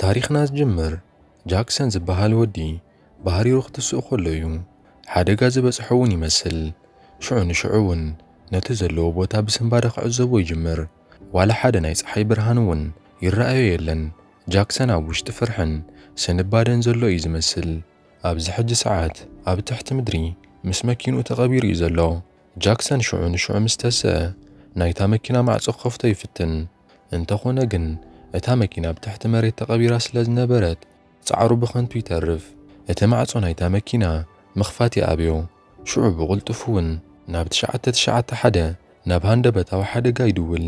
ታሪኽና ዝጅምር ጃክሰን ዝበሃል ወዲ ባህሪሩ ክትስእ ከሎ እዩ። ሓደጋ ዝበጽሖ እውን ይመስል። ሽዑ ንሽዑ እውን ነቲ ዘለዎ ቦታ ብስንባደ ክዕዘቦ ይጅምር። ዋላ ሓደ ናይ ፀሓይ ብርሃን እውን ይረኣዮ የለን። ጃክሰን ኣብ ውሽጢ ፍርሕን ስንባደን ዘሎ እዩ ዝመስል። ኣብዚ ሕጂ ሰዓት ኣብ ትሕቲ ምድሪ ምስ መኪንኡ ተቐቢሩ እዩ ዘሎ። ጃክሰን ሽዑ ንሽዑ ምስ ተሰ ናይታ መኪና ማዕጾ ክኸፍቶ ይፍትን፣ እንተኾነ ግን እታ መኪና ኣብ ትሕቲ መሬት ተቐቢራ ስለ ዝነበረት ጻዕሩ ብኸንቱ ይተርፍ። እቲ ማዕጾ ናይታ መኪና ምኽፋት ይኣብዮ፣ ሽዑ ብቕልጡፍ'ውን ናብ ትሽዓተ ትሽዓተ ሓደ ናብ ሃንደበታዊ ሓደጋ ይድውል፣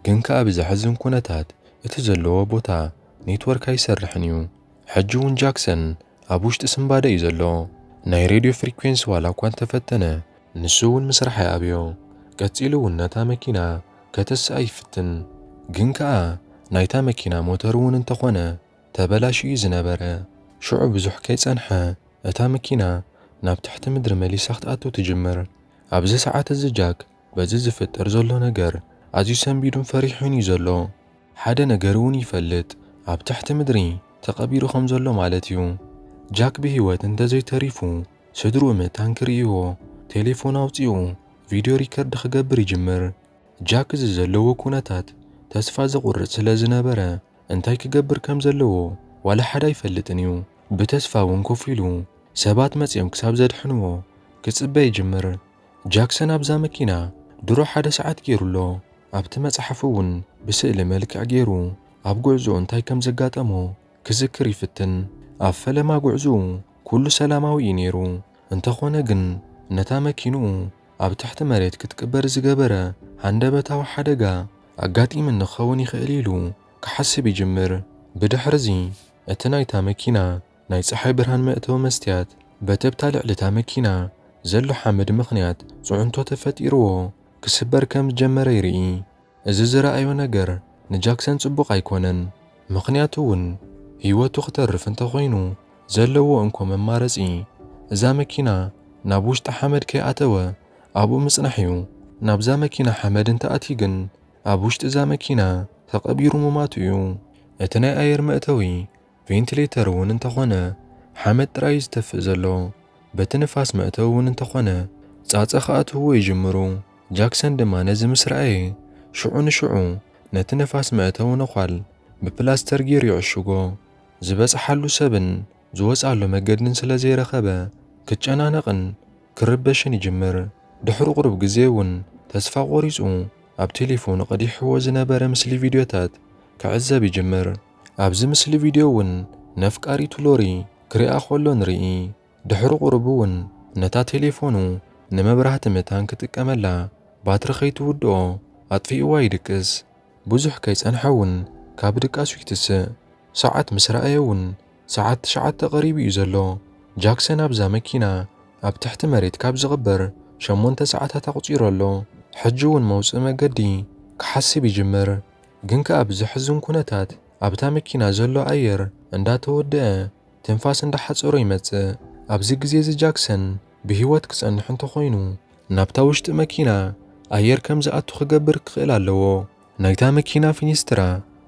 ግን ከኣ ብዘሕዝን ኩነታት እቲ ዘለዎ ቦታ ኔትወርክ ኣይሰርሕን እዩ። ሕጂ ውን ጃክሰን ኣብ ውሽጢ ስንባደ እዩ ዘሎ ናይ ሬድዮ ፍሪኩዌንሲ ዋላ እኳ እንተፈተነ ንሱ ውን ምስራሕ ኣይኣብዮ ቀጺሉ ውን ነታ መኪና ከተስኣ ይፍትን ግን ከኣ ናይታ መኪና ሞተር ውን እንተኾነ ተበላሽዩ እዩ ዝነበረ ሽዑ ብዙሕ ከይጸንሐ እታ መኪና ናብ ትሕቲ ምድሪ መሊሳ ክትኣቱ ትጅምር ኣብዚ ሰዓት እዚ ጃክ በዚ ዝፍጠር ዘሎ ነገር ኣዝዩ ሰንቢዱን ፈሪሑን እዩ ዘሎ። ሓደ ነገር እውን ይፈልጥ፣ ኣብ ትሕቲ ምድሪ ተቐቢሩ ከም ዘሎ ማለት እዩ። ጃክ ብህይወት እንተዘይተሪፉ፣ ስድርኡ ምእታን ክርእይዎ ቴሌፎን ኣውጺኡ ቪድዮ ሪከርድ ክገብር ይጅምር። ጃክ እዚ ዘለዎ ኩነታት ተስፋ ዘቑርጽ ስለ ዝነበረ እንታይ ክገብር ከም ዘለዎ ዋላ ሓደ ኣይፈልጥን እዩ። ብተስፋ እውን ኮፍ ኢሉ ሰባት መጺኦም ክሳብ ዘድሕንዎ ክጽበ ይጅምር። ጃክሰን ኣብዛ መኪና ድሮ ሓደ ሰዓት ገይሩ ኣሎ፣ ኣብቲ መጽሓፉ እውን ብስእሊ መልክዕ ገይሩ ኣብ ጕዕዞኡ እንታይ ከም ዘጋጠሞ ክዝክር ይፍትን። ኣብ ፈለማ ጕዕዞኡ ኵሉ ሰላማዊ እዩ ነይሩ፣ እንተዀነ ግን ነታ መኪንኡ ኣብ ትሕቲ መሬት ክትቅበር ዝገበረ ሃንደበታዊ ሓደጋ ኣጋጢምኒ ክኸውን ይኽእል ኢሉ ክሓስብ ይጅምር። ብድሕርዚ እቲ ናይታ መኪና ናይ ጸሓይ ብርሃን መእተዊ መስትያት በቲ'ብታ ልዕሊ'ታ መኪና ዘሎ ሓመድ ምኽንያት ጽዕንቶ ተፈጢርዎ ክስበር ከም ዝጀመረ ይርኢ። እዚ ዝረኣዮ ነገር ንጃክሰን ጽቡቕ ኣይኮነን፣ ምኽንያቱ'ውን ህይወቱ ክተርፍ እንተኾይኑ ዘለዎ እንኮ መማረጺ እዛ መኪና ናብ ውሽጣ ሓመድ ከይኣተወ ኣብኡ ምጽናሕ'ዩ። ናብዛ መኪና ሓመድ እንተኣትዩ ግን ኣብ ውሽጢ'ዛ መኪና ተቐቢሩ ምሟቱ'ዩ። እቲ ናይ ኣየር መእተዊ ቬንትሌተር እውን እንተኾነ ሓመድ ጥራይ እዩ ዝተፍእ ዘሎ። በቲ ንፋስ መእተዊ እውን እንተኾነ ጻጸ ክኣትውዎ ይጅምሩ። ጃክሰን ድማ ነዚ ምስ ረኣየ ሽዑ ንሽዑ ነቲ ነፋስ መእተዊ ነዃል ብፕላስተር ገይሩ ይዕሽጎ። ዝበጽሓሉ ሰብን ዝወጽኣሉ መገድን ስለ ዘይረኸበ ክጨናነቕን ክርበሽን ይጅምር። ድሕሪ ቁሩብ ግዜ እውን ተስፋ ቆሪጹ ኣብ ቴሌፎኑ ቀዲሕዎ ዝነበረ ምስሊ ቪድዮታት ክዕዘብ ይጅምር። ኣብዚ ምስሊ ቪድዮ እውን ነፍቃሪቱ ሎሪ ክሪኣ ከሎ ንርኢ። ድሕሪ ቁሩብ እውን ነታ ቴሌፎኑ ንመብራህቲ መታን ክጥቀመላ ባትሪ ከይትውድኦ ኣጥፊእዋ ይድቅስ። ብዙሕ ከይጸንሐ እውን ካብ ድቃሱ ይትስእ። ሰዓት ምስ ረኣየ እውን ሰዓት ትሽዓተ ቀሪቡ እዩ ዘሎ። ጃክሰን ኣብዛ መኪና ኣብ ትሕቲ መሬት ካብ ዝቕበር ሸሞንተ ሰዓታት ኣቑጺሩ ኣሎ። ሕጂ እውን መውጽኢ መገዲ ክሓስብ ይጅምር። ግን ከኣ ብዘሕዝን ኩነታት ኣብታ መኪና ዘሎ ኣየር እንዳተወደኣ ትንፋስ እንዳሓጸሮ ይመጽእ። ኣብዚ ግዜ'ዚ ጃክሰን ብህይወት ክጸንሕ እንተኾይኑ ናብታ ውሽጢ መኪና ኣየር ከም ዝኣቱ ክገብር ክኽእል ኣለዎ። ናይታ መኪና ፊኒስትራ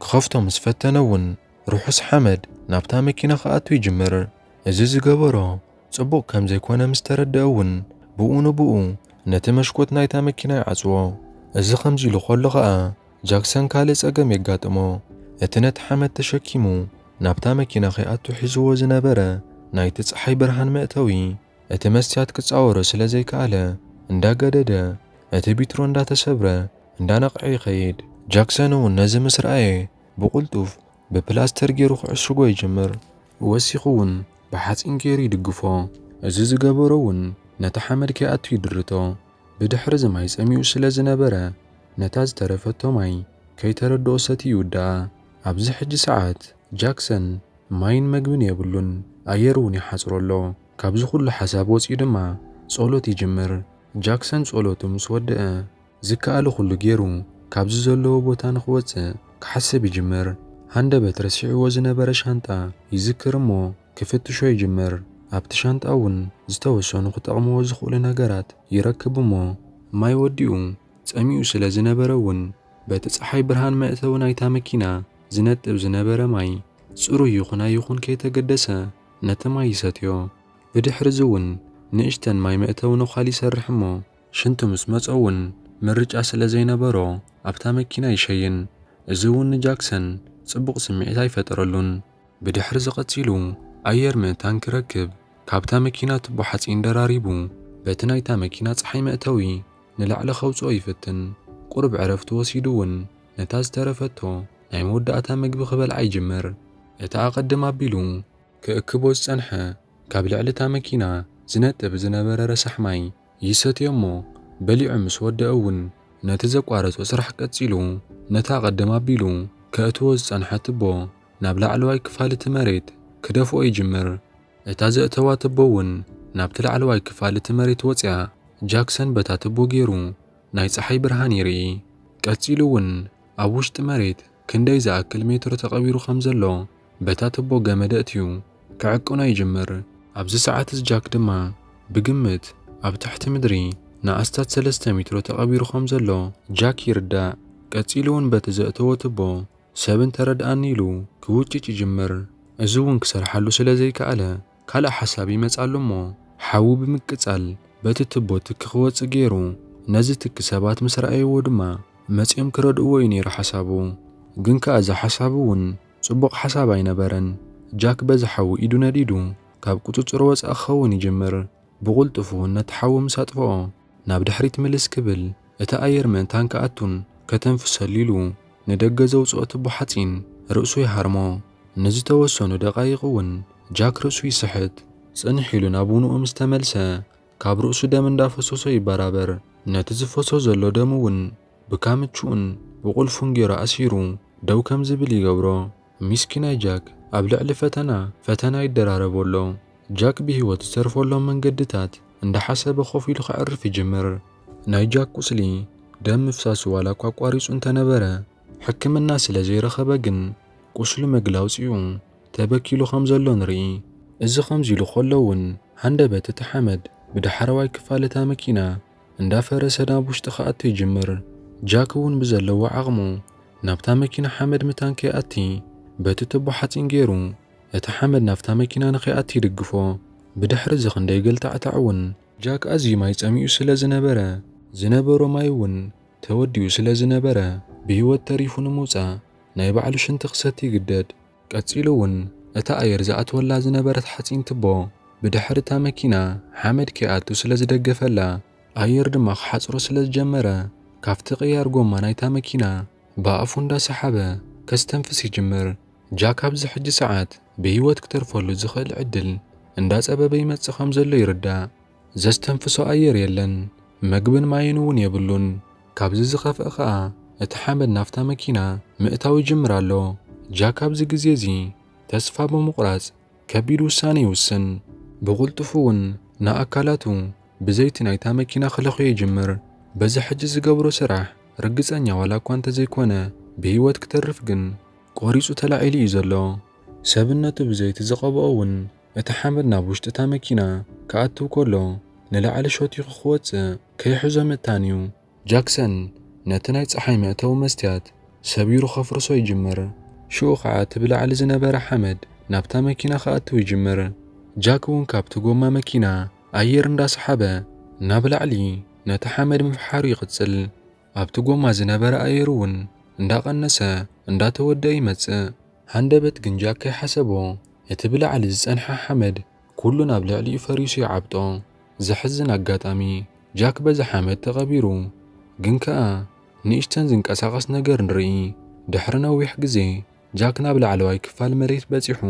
ክኸፍቶ ምስ ፈተነ'ውን ርሑስ ሓመድ ናብታ መኪና ክኣቱ ይጅምር። እዚ ዝገበሮ ጽቡቕ ከም ዘይኮነ ምስ ተረድኣ እውን ብኡ ንብኡ ነቲ መሽኮት ናይታ መኪና ይዓጽዎ። እዚ ከምዚ ኢሉ ከሎ ከኣ ጃክሰን ካልእ ጸገም የጋጥሞ። እቲ ነቲ ሓመድ ተሸኪሙ ናብታ መኪና ከይኣቱ ሒዝዎ ዝነበረ ናይቲ ጸሓይ ብርሃን መእተዊ እቲ መስትያት ክጻወሮ ስለ ዘይከኣለ እንዳገደደ እቲ ቢትሮ እንዳተሰብረ እንዳነቕዐ ይኸይድ። ጃክሰን እውን ነዚ ምስ ረኣየ ብቕልጡፍ ብፕላስተር ገይሩ ክዕሽጎ ይጅምር። ወሲኹ እውን ብሓጺን ገይሩ ይድግፎ። እዚ ዝገበሮ እውን ነቲ ሓመድ ከይኣቱ ይድርቶ። ብድሕርዚ ማይ ጸሚኡ ስለ ዝነበረ ነታ ዝተረፈቶ ማይ ከይተረድኦ ሰትዩ ይውድኣ። ኣብዚ ሕጂ ሰዓት ጃክሰን ማይን መግብን የብሉን፣ ኣየር እውን ይሓጽሮ ኣሎ። ካብዚ ኵሉ ሓሳብ ወጺኡ ድማ ጸሎት ይጅምር። ጃክሰን ጸሎቱ ምስ ወድኣ ዝከኣሎ ኩሉ ጌሩ ካብዚ ዘለዎ ቦታ ንኽወጽእ ክሓስብ ይጅምር። ሃንደበት ረሲዕዎ ዝነበረ ሻንጣ ይዝክር እሞ ክፍትሾ ይጅምር። ኣብቲ ሻንጣ እውን ዝተወሰኑ ክጠቕምዎ ዝኽእሉ ነገራት ይረክብ እሞ፣ ማይ ወዲኡ ጸሚኡ ስለ ዝነበረ እውን በቲ ጸሓይ ብርሃን መእተዊ ናይታ መኪና ዝነጥብ ዝነበረ ማይ ጽሩይ ይኹን ኣይኹን ከይተገደሰ ነቲ ማይ ይሰትዮ። ብድሕርዚ እውን ንእሽተን ማይ መእተዊ ነዃል ይሰርሕ እሞ፣ ሽንቲ ምስ መጾ እውን ምርጫ ስለ ዘይነበሮ ኣብታ መኪና ይሸይን። እዚ እውን ንጃክሰን ጽቡቕ ስምዒት ኣይፈጠረሉን። ብድሕርዚ ቀጺሉ ኣየር ምእታን ክረክብ ካብታ መኪና ቱቦ ሓጺን ደራሪቡ በቲ ናይታ መኪና ጸሓይ መእተዊ ንላዕሊ ከውጽኦ ይፍትን። ቁሩብ ዕረፍቲ ወሲዱ እውን ነታ ዝተረፈቶ ናይ መወዳእታ መግቢ ክበልዓ ይጅምር። እቲ ኣቐድም ኣቢሉ ክእክቦ ዝጸንሐ ካብ ልዕሊ እታ መኪና ዝነጥብ ዝነበረ ረሳሕ ማይ ይሰትዮ'ሞ በሊዑ ምስ ወደኣ'ውን ነቲ ዘቋረጾ ስራሕ ቀጺሉ ነታ ቅድም ኣቢሉ ከእትዎ ዝጸንሐ ትቦ ናብ ላዕለዋይ ክፋል'ቲ መሬት ክደፍኦ ይጅምር። እታ ዘእተዋ ትቦ'ውን ናብቲ ላዕለዋይ ክፋል'ቲ መሬት ወጺኣ። ጃክሰን በታ ትቦ ጌሩ ናይ ጸሓይ ብርሃን ይርኢ። ቀጺሉ'ውን ኣብ ውሽጢ መሬት ክንደይ ዝኣክል ሜትሮ ተቐቢሩ ከም ዘሎ በታ ትቦ ገመድ ኣእትዩ ክዕቅኖ ይጅምር። ኣብዚ ሰዓት እዚ ጃክ ድማ ብግምት ኣብ ትሕቲ ምድሪ ንኣስታት ሰለስተ ሜትሮ ተቐቢሩ ከም ዘሎ ጃክ ይርዳእ። ቀጺሉ እውን በቲ ዘእተዎ ትቦ ሰብ እንተ ረድኣኒ ኢሉ ክውጭጭ ይጅምር። እዚ እውን ክሰርሓሉ ስለ ዘይከኣለ ካልእ ሓሳብ ይመጽኣሉ'ሞ ሓዊ ብምቅጻል በቲ ትቦ ትኪ ክወጽእ ገይሩ። ነዚ ትኪ ሰባት ምስ ረኣይዎ ድማ መጺኦም ክረድእዎ እዩ ነይሩ ሓሳቡ። ግን ከኣ እዚ ሓሳቡ'ውን ጽቡቕ ሓሳብ ኣይነበረን። ጃክ በዚ ሓዊ ኢዱ ነዲዱ ካብ ቁጽጽሩ ወጻኢ ክኸውን ይጅምር። ብቕልጡፍ'ውን ነቲ ሓዊ ምስ ኣጥፍኦ ናብ ድሕሪት ምልስ ክብል እቲ ኣየር ምእንታን ክኣቱን ከተንፍሰሉ ኢሉ ንደገ ዘውጽኦ ትቦ ሓጺን ርእሱ ይሃርሞ። ንዝተወሰኑ ደቓይቕ እውን ጃክ ርእሱ ይስሕት። ጽንሕ ኢሉ ናብ ውንኡ ምስ ተመልሰ ካብ ርእሱ ደም እንዳፈሰሶ ይበራበር። ነቲ ዝፈሶ ዘሎ ደም እውን ብካምችኡን ብቑልፉን ጌሩ ኣሲሩ ደው ከም ዝብል ይገብሮ። ሚስኪናይ ጃክ ኣብ ልዕሊ ፈተና ፈተና ይደራረቦ ኣሎ። ጃክ ብህይወት ዝተርፈሎም መንገድታት እንዳሓሰበ ኮፍ ኢሉ ከዕርፍ ይጅምር። ናይ ጃክ ቁስሊ ደም ምፍሳሱ ዋላኳ ኣቋሪጹ እንተነበረ ሕክምና ስለ ዘይረኸበ ግን ቁስሉ መግላውጺኡ ተበኪሉ ከም ዘሎ ንርኢ። እዚ ከምዚ ኢሉ ከሎ ውን ሃንደበት እቲ ሓመድ ብዳሕረዋይ ክፋል እታ መኪና እንዳፈረሰ ናብ ውሽጢ ክኣቱ ይጅምር። ጃክ እውን ብዘለዎ ዓቕሙ ናብታ መኪና ሓመድ ምታን ከይኣቲ በቲ ቱቦ ሓፂን ገይሩ እቲ ሓመድ ናብታ መኪና ንከይኣቲ ይድግፎ። ብድሕሪ እዚ ክንደይ ገልታዕታዕ እውን። ጃክ ኣዝዩ ማይ ፀሚኡ ስለ ዝነበረ ዝነበሮ ማይ እውን ተወዲኡ ስለ ዝነበረ ብህይወት ተሪፉ ንምውፃእ ናይ ባዕሉ ሽንቲ ክሰቲ ይግደድ። ቀጺሉ ውን እታ ኣየር ዝኣትወላ ዝነበረት ሓጺን ትቦ ብድሕሪ እታ መኪና ሓመድ ከይኣቱ ስለ ዝደገፈላ ኣየር ድማ ክሓጽሮ ስለ ዝጀመረ ካብቲ ቅያር ጎማ ናይታ መኪና ብኣፉ እንዳ ሰሓበ ከስተንፍስ ይጅምር። ጃክ ኣብዚ ሕጂ ሰዓት ብህይወት ክተርፈሉ ዝኽእል ዕድል እንዳ ጸበበ ይመጽእ ከም ዘሎ ይርዳእ። ዘስተንፍሶ ኣየር የለን፣ መግብን ማይን እውን የብሉን። ካብዚ ዝኸፍኣ ኸኣ እቲ ሓመድ ናብታ መኪና ምእታው ይጅምር ኣሎ። ጃክ ኣብዚ ግዜ እዚ ተስፋ ብምቝራጽ ከቢድ ውሳነ ይውስን። ብቕልጡፍ እውን ንኣካላቱ ብዘይቲ ናይታ መኪና ክለኽዮ ይጅምር። በዚ ሕጂ ዝገብሮ ስራሕ ርግጸኛ ዋላ እኳ እንተ ዘይኰነ፣ ብህይወት ክተርፍ ግን ቈሪጹ ተላዒሉ ኢዩ ዘሎ። ሰብነቱ ብዘይቲ ዝቐብኦ እውን እቲ ሓመድ ናብ ውሽጢ እታ መኪና ክኣትው ከሎ ንላዕሊ ሾቲኹ ክወጽእ ከይሕዞ ምእታን እዩ። ጃክሰን ነቲ ናይ ጸሓይ መእተዊ መስትያት ሰቢሩ ከፍርሶ ይጅምር፣ ሽኡ ኸኣ እቲ ብላዕሊ ዝነበረ ሓመድ ናብታ መኪና ክኣትው ይጅምር። ጃክ እውን ካብቲ ጎማ መኪና ኣየር እንዳሰሓበ ናብ ላዕሊ ነቲ ሓመድ ምፍሓሩ ይቕጽል። ኣብቲ ጎማ ዝነበረ ኣየር እውን እንዳቐነሰ እንዳተወደኣ ይመጽእ። ሃንደበት ግንጃ ከይሓሰቦ እቲ ብላዕሊ ዝጸንሐ ሓመድ ኩሉ ናብ ልዕሊኡ ፈሪሱ ይዓብጦ። ዘሕዝን ኣጋጣሚ ጃክ በዚ ሓመድ ተቐቢሩ። ግን ከኣ ንእሽተን ዝንቀሳቐስ ነገር ንርኢ። ድሕሪ ነዊሕ ግዜ ጃክ ናብ ላዕለዋይ ክፋል መሬት በጺሑ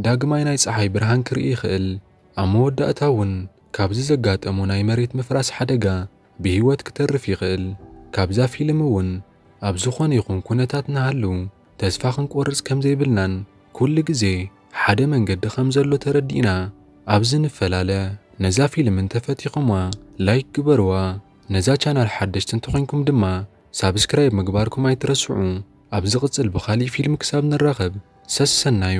ዳግማይ ናይ ጸሓይ ብርሃን ክርኢ ይኽእል። ኣብ መወዳእታ እውን ካብዚ ዘጋጠሞ ናይ መሬት ምፍራስ ሓደጋ ብሂወት ክተርፍ ይኽእል። ካብዛ ፊልም እውን ኣብ ዝኾነ ይኹን ኩነታት ንሃሉ ተስፋ ክንቆርፅ ከምዘይብልናን ኩሉ ግዜ ሓደ መንገዲ ከምዘሎ ተረዲእና ኣብዚ ንፈላለ። ነዛ ፊልም እንተፈቲኹምዋ ላይክ ግበርዋ ነዛ ቻናል ሓደሽቲ እንተኾይንኩም ድማ ሳብስክራይብ ምግባርኩም ኣይትረስዑ። ኣብ ዝቕፅል ብኻሊእ ፊልም ክሳብ ንራኸብ ሰሰናዩ።